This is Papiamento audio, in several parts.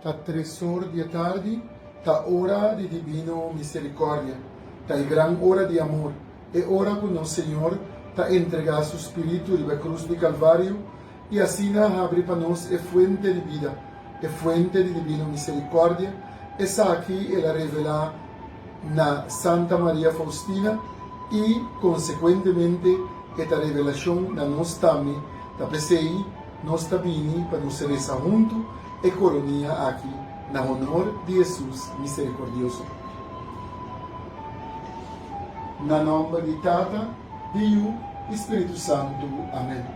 Ta tres or di e tardi, ta ora di dibino miserikòrdia, ta e gran ora di amor, e ora ku nos Señor ta entregá Su Spiritu riba e krus di Kalvario i asina habri pa nos e fuente di bida, e fuente di dibino miserikòrdia, esaki el a revelá na Santa Maria Faustina i konsekuentemente e ta revelashon na nos tambe, ta p'esei nos ta bini pa nos resa huntu e koronia aki na honor di Hesus Miserikordioso. Na nòmber di Tata, di Yu i Spiritu Santu. Amèn.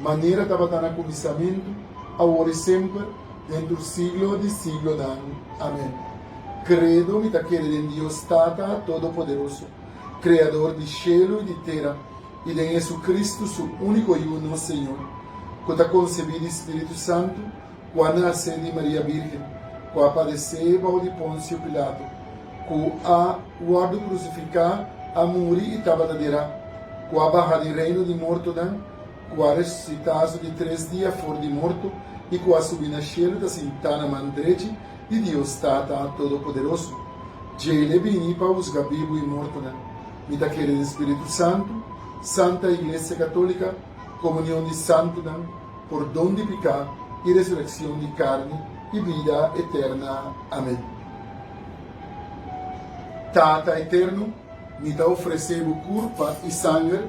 manera tabata na kuminsamentu, awor i semper, dentro siglo di siglonan. Amen. Kredo, Mi ta kere den Dios Tata Todopoderoso, Kreador di shelu i di tera, i den JesuCristu, Su úniko Yu, nos Señor, ku ta konsebí di Spiritu Santu, ku a nase di Maria Bírgen, ku a padesé bou di Ponsio Pilato, ku a wòrdu krusifiká, a muri i tabata derá, ku a baha di reino di mortonan, ku a resusitá so di tres dia for di morto i ku a subi na shelu ta sintá na man drechi di Dios Tata Todopoderoso. Djei l'e bini pa husga bibu i mortonan. Mi ta kere den Spiritu Santu, santa Iglesia Katólika, komunion di santunan, pordon di piká i resurekshon di karni i bida eterna. Amen. Tata Eterno, mi ta ofresé Bo kurpa i sanger.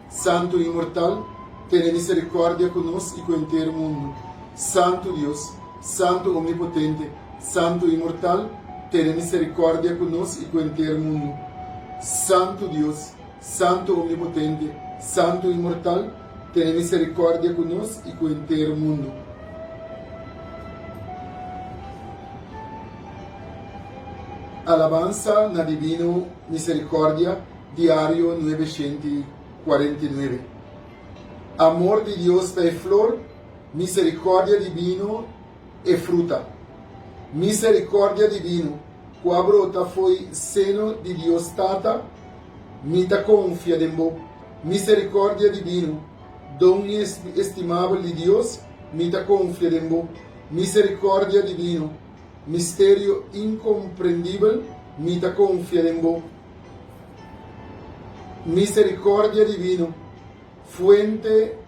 Santu Inmortal, tene misericordia cu nos y cu enter mundo. Santu Dios, Santu Omnipotente, Santu Inmortal, tene misericordia cu nos y cu enter mundo. Santu Dios, Santu Omnipotente, Santu Inmortal, tene misericordia cu nos y cu enter mundo. Alabansa na divino misericordia. Diario nuebe shenti i kuarenta i nuebe Amor di Dios ta e flor, miserikòrdia dibino e fruta. Miserikòrdia dibino ku a brota fo'i seno di Dios Tata, mi ta konfia den bo. Miserikòrdia dibino, don estimabel di Dios, mi ta konfia den bo. Miserikòrdia dibino, misterio inkomprendibel, mi ta konfia den bo. Misericordia divino, fuente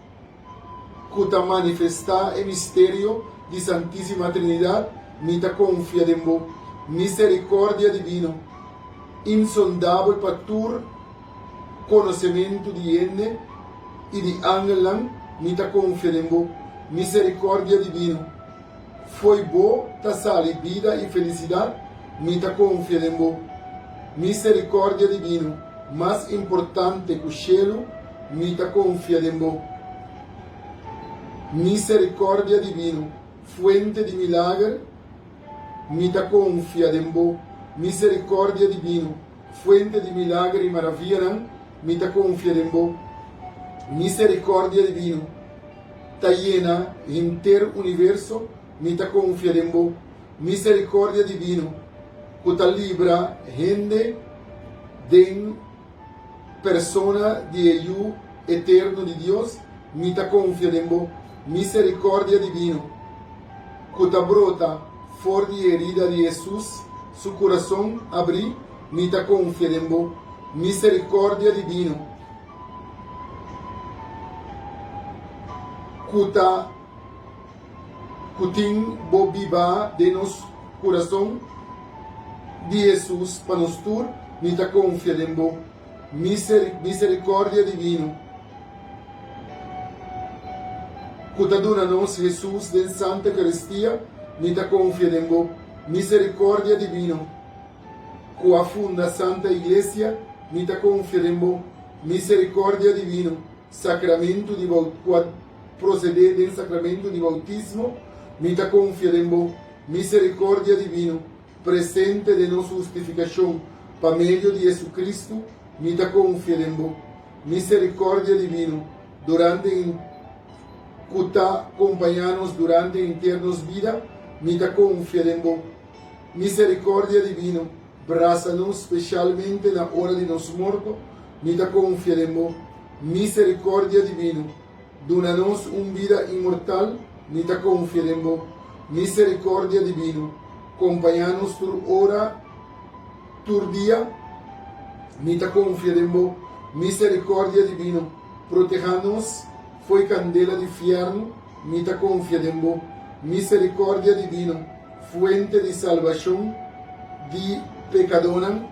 cu ta manifesta e misterio di Santisima Trinidad, mi ta confia den bo. Misericordia divino, insondabel pa tur conocementu di hende y di angelnan, mi ta confia den bo. Misericordia divino, Fo'i bo ta sali bida i felisidat, mi ta konfia den bo. Miserikòrdia divino mas importante ku shelu, mi ta konfia den bo. Miserikòrdia divino, fuente di milager, mi ta konfia den bo. Miserikòrdia divino, fuente di milager i maravianan, mi ta konfia den bo. Miserikòrdia divino. ta yena henter universo, mi ta konfia den bo misericordia divino cu ta libra hende den persona di e yu eterno di Dios, mi ta konfia den bo misericordia divino cu ta brota for di e herida di Hesus, su curason abri, mi ta konfia den bo misericordia divino. ku ta ku tin bo biba den nos kurason di Hesus pa nos tur, mi ta konfia den bo miserikòrdia divino ku ta duna nos Hesus den Santa Eukaristia, mi ta konfia den bo miserikòrdia divino. Ku a funda Santa Iglesia, mi ta konfer'en bo miserikordia divino, sakramentu di baut ku a prosedé den sakramentu di bautismo, mi ta konfer'en bo miserikordia divino presente den nos hustifikashon pa medio di JesuCristu, mi ta konfer'en bo miserikordia divino durante e ku ta kompañá nos durante henter nos bida, mi ta konfer'en bo Misericordia divino, brasa nos specialmente na ora di nos morto, mi ta confia den bo. Misericordia divino, duna nos un bida inmortal, mi ta confia den bo. Misericordia divino, compaña nos tur ora, tur dia, mi ta confia den bo. Misericordia divino, proteha nos fo'i candela di fierno, mi ta confia den bo, misericordia divino, fuente di salbacion di pecadonan,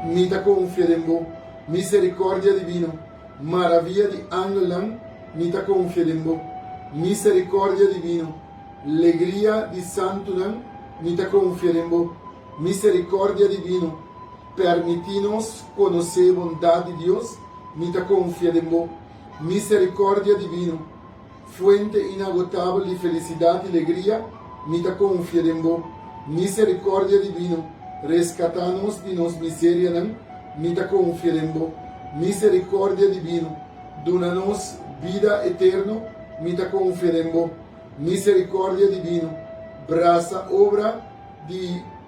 mi ta confia den bo, misericordia divino, maravia di angelnan, mi ta confia den bo, misericordia divino, legria di santunan, mi ta confia den bo, misericordia divino, Permití nos konosé bondat di Dios, mi ta konfia den bo. Miserikòrdia divino, fuente inagotabel di felisidat i legria, mi ta konfia den bo. Miserikòrdia divino, reskatá nos di nos miserianan, mi ta konfia den bo. Miserikòrdia divino, duna nos bida eterno, mi ta konfia den bo. Miserikòrdia divino, brasa obra di.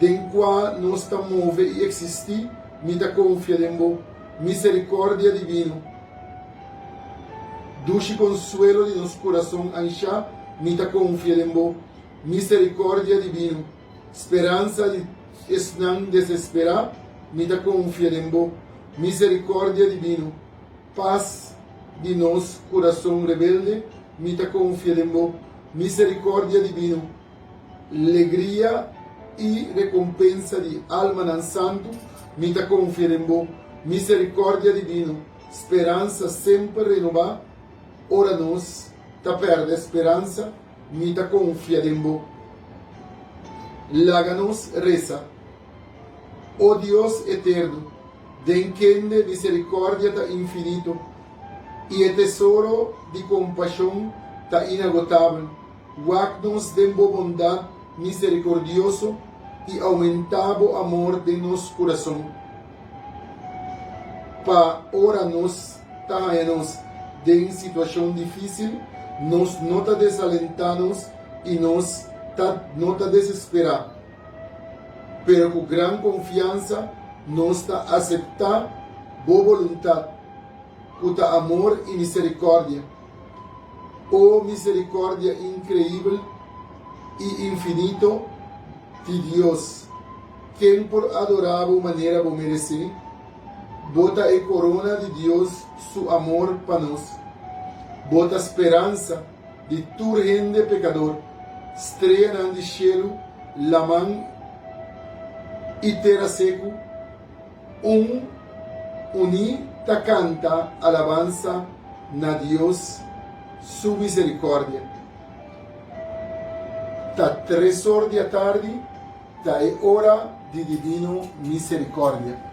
den kua nos ta move i eksistí, mi ta konfia den Bo miserikordia divino. Dushi konsuelo di nos kurason anshá, mi ta konfia den Bo miserikordia divino. Speransa di esnan desesperá, mi ta konfia den Bo miserikordia divino. Pas di nos kurason rebelde, mi ta konfia den Bo miserikordia divino. Legria i rekompensa di almanan santu, mi ta konfia den bo. Miserikòrdia divino, speransa semper renobá. Ora nos ta pèrdè speransa, mi ta konfia den bo. Laga nos resa. O Dios eterno, den kende miserikòrdia ta infinito i e tesoro di kompashon ta inagotabel, Wak nos den bo bondat miserikordioso i oumentá bo amor den nos kurason, pa ora nos ta haña nos den situashon difísil, nos no ta desalentá nos i nos ta no ta desesperá, pero ku gran konfiansa nos ta aseptá bo boluntat, ku ta amor i miserikòrdia. O misericordia increibel y infinito di Dios, ken por adora Bo manera Bo merece? Bo ta e corona di Dios Su amor pa nos. Bo ta speransa di tur hende pecador, streanan di cielo laman y tera secu. Un, uní ta kanta alabansa na Dios su miserikòrdia. Ta tresor di atardi, ta e ora di divino miserikòrdia.